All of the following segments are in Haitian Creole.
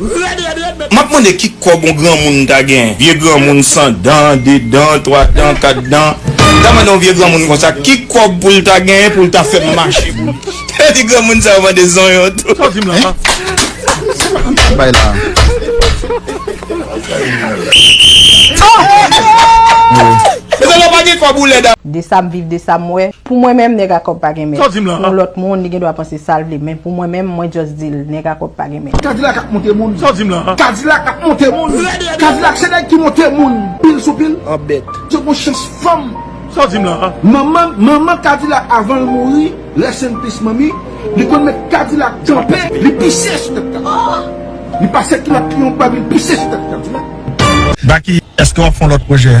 Red red red met. Map mande ki kob on granmoun ta gen vye granmoun san dan de dan twa dan kat dan ta mande on vye granmoun konsa ki kob poul ta gen poul ta fem mache pou li he di granmoun sa yo mande zonyon tou. Sa w di m lan pa Sa bay la Mezanmi ou pa gen kob ou led a. De sam viv de sam wè Pou mwen menm nèg a kòb pa gen mèt Pou yon lòt moun li gen dwa panse sal vle men Pou mwen menm mwen just dil nèg a kòb pa gen mèt. men. Kadilak ap monte moun. Sa w di m lan? Kadilak ap monte moun. Kadilak se nèg ki monte moun pil sou pil. An bèt. Yo gon chans fanm. Sa w di m lan? Manman, manman kadilak avan l mouri, rest in peace manmi, li konn met kadilak kanpe, li pise sou tèt kadilak. Li pase kilòt li yon bab li pise sou tèt kadilak. Baky, eske w ap fè yon lòt pwojè?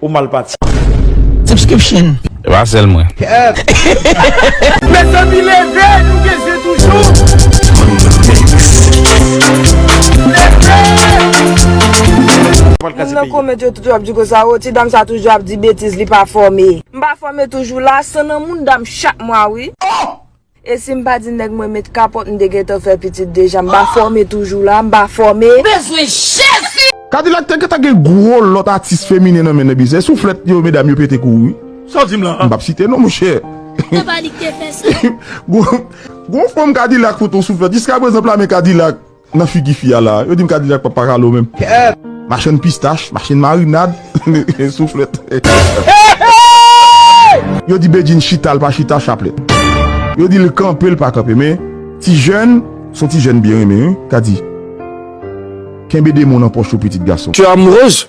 Ou mal pati. Subscription. E pa sel mwen. Mezanmi leve nou gen zen toujou. Moun nan comment yo toujou ap di konsa oh ti dam sa toujou ap di betiz li pa fòme. M pa fòme toujou la, san nan moun dam chak mwa wi. Oh! E sim pa di nèg mwen met kapòt m te gentan fè pitit deja m pa fòme toujou la m pa fòme. Kadilak te gentan gen gwo lòt atis feminen nan men Nebizè souflèt yo medam yo pete kouri wi m pap site non monchè gwo fanm kadilak fout on souflèt jiskaprezan plamen kadilak. Nan figi fi a la. Yo dim kadijak pa paka lo menm. Machann pistach, machann marinad, souflèt. Yo di Bedjine chita l pa chita chaplèt. Yo di l kanpe l pa kanpe men ti jèn son ti jèn byen renmen wi kadi. Kenbe demon nan pòch ou pitit gason. Kè a morose